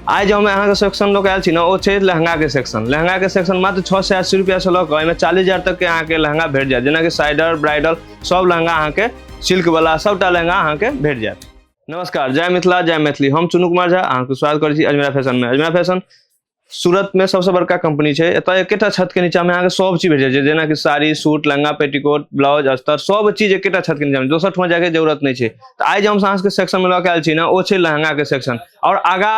आइ जे हम अहाँके सेक्शन लऽ कऽ आयल छी ने ओ छै लहंगाके सेक्शन लहंगाके सेक्शन मात्र छओ सए अस्सी रुपैआसँ लऽ कऽ एहिमे चालीस हजार तकके अहाँके लहंगा भेट जायत जेनाकि साइडर ब्राइडल सभ लहंगा अहाँके सिल्कवला सभटा लहंगा अहाँके भेट जायत नमस्कार जय मिथिला जय मैथिली हम चुनू कुमार झा अहाँके स्वागत करै छी अजमेरा फैशनमे अजमेरा फैशन सूरतमे सभसँ बड़का कंपनी छै एतय एकेटा छतके नीचाँमे अहाँके सभ चीज भेट जाइ छै जेनाकि sari suit lehenga petticoat blouse अस्तर सभ चीज एकेटा छतके नीचाँमे दोसर ठाम जायके जरूरत नहि छै तऽ आइ जे हम अहाँके सेक्शनमे लऽ कऽ आयल छी ने ओ छै लहंगाके सेक्शन आओर आगा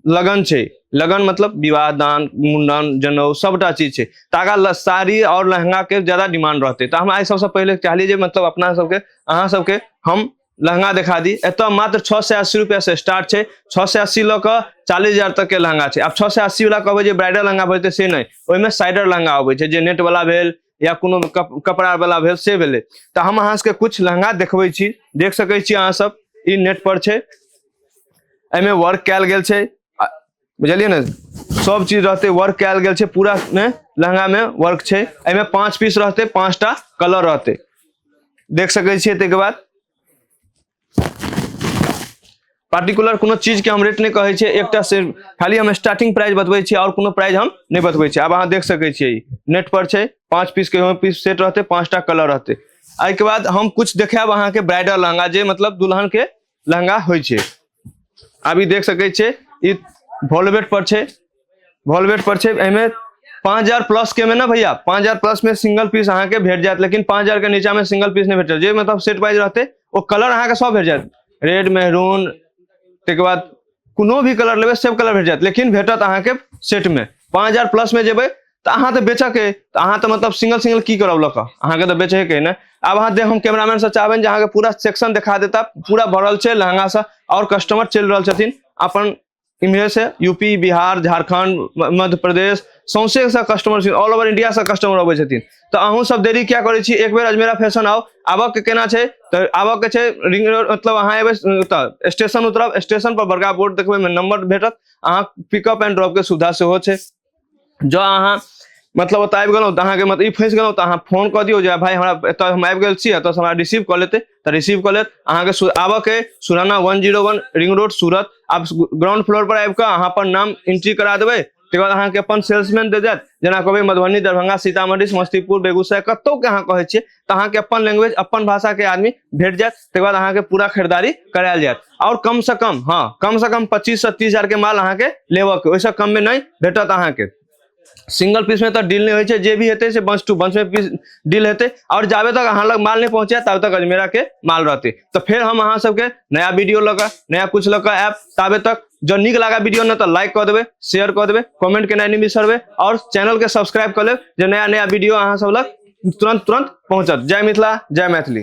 लगन छै लगन मतलब विवाह दान मुंडन जनऊ सबटा चीज छै तऽ आगा साड़ी आओर लहंगा के ज्यादा डिमांड रहते तऽ हम आइ सबसे पहले चाहली जे मतलब अपना सबके अहाँ सबके हम लहंगा देखा दी एत मात्र छओ सए अस्सी रुपया से स्टार्ट छै छओ सए अस्सी लऽ कऽ चालीस हजार तक के लहंगा छै आब छओ सए अस्सी वाला कहबै जे ब्राइडल लहंगा भेटतै से नहि ओहिमे साइडर लहंगा अबै छै जे नेट वाला भेल या कोनो कप, कपड़ा वाला भेल से भेले तो हम अहाँ सबके कुछ लहंगा देखबै छी देख सकै छी अहाँ सब ई नेट पर छै एमे वर्क कयल गेल छै आ- बुझलियै ने सब चीज रहते वर्क कयल गेल छै पूरा में लहंगा में वर्क छै एमे पांच पीस रहते पांचटा कलर रहते देख सकै छियै ताहिके बाद पार्टिकुलर कोनो चीजके हम रेट नहि कहै छियै एकटा से खाली हम स्टार्टिंग प्राइस बतबै छियै आओर कोनो प्राइस हम नहि बतबै छियै आब अहाँ देख सकै छियै नेट पर छै पाँच पीस के पीस सेट रहतै पाँचटा कलर रहतै एहिके बाद हम कुछ देखायब अहाँके ब्राइडल लहंगा जे मतलब दुल्हन के लहंगा होइ छै आब ई देख सकै छियै ई वॉलवेट पर छै वॉलवेट पर छे एमे पांच हजार प्लस के में ना भैया पांच हजार प्लस में सिंगल पीस अहाँ के भेट जात लेकिन पांच हजार के नीचा में सिंगल पीस नहीं भेट जात जे मतलब सेट वाइज रहते वो कलर अहाँ के सब भेट जात रेड मेहरून तक बाद कोनो भी कलर लेबे सब कलर भेट जात लेकिन भेटत अहाँ के सेट में पांच हजार प्लस में जेबे तो अहाँ तो बेचक है तो अहाँ तो मतलब सिंगल सिंगल की करब लक अहाँ के तो बेचे के ना अब अहाँ दे हम कैमरामैन से चाहबे जे अहाँ के पूरा सेक्शन दिखा देता पूरा भरल छे लहंगा से और कस्टमर चल रहल छथिन अपन इम्हरे से यूपी बिहार झारखंड म- मध्य प्रदेश सौंसे से कस्टमर छथिन ऑल ओवर इंडिया से कस्टमर अबै छथिन तऽ अहूँ सब देरी क्या करै छी एक बेर अजमेरा फैशन आउ आबऽ के केना छै तऽ आबऽ के छै रिंग रोड मतलब अहाँ एबै तऽ स्टेशन उतरब स्टेशन पर बड़का बोर्ड देखबै में नंबर भेटत अहाँ पिकअप एंड ड्रॉप के सुविधा सेहो छै जो अहाँ मतलब ओतऽ आबि गेलहुँ तऽ अहाँके मतलब ई फँसि गेलहुँ तऽ अहाँ फोन कऽ दियौ जे भाय हमरा एतऽ हम आबि गेल छी एतऽसँ हमरा रिसीव कऽ लेतै तऽ रिसीव कऽ लेत अहाँके सु- आबऽके Surana one zero one ring road Surat आप ग्राउंड फ्लोर पर आबि कऽ अहाँ अपन नाम एंट्री करा देबै तकर बाद अहाँके अपन सेल्समैन दे जायत जेना कहबै मधुबनी दरभंगा सीतामढ़ी समस्तीपुर बेगूसराय कतौके अहाँ कहै छियै तऽ अहाँके अपन लैंग्वेज अपन भाषा के आदमी भेट जायत तकर बाद अहाँके पूरा खरीदारी करायल जायत और कम से कम हाँ कम से कम पच्चीस से तीस हजार के माल अहाँके लेबऽ के ओहिसँ कम में नहीं भेटत अहाँके सिंगल पीस में तो डील नहीं होइ छै जे भी हेतै से बंच टू बंच में पीस डील हेतै और जाबे तक अहाँ लग माल नहीं पहुंचे तब तक अजमेरा के माल रहते तो फिर हम अहाँ सबके नया वीडियो लऽ कऽ नया कुछ लऽ कऽ आयब ताबे तक जँ नीक लागा वीडियो ने तो लाइक कऽ देबै शेयर कऽ देबै कमेंट केनाइ नहि बिसरबै और चैनल के सब्सक्राइब कऽ लेब जे नया नया वीडियो अहाँ सब लग तुरंत तुरंत पहुंचत जय मिथिला जय मैथिली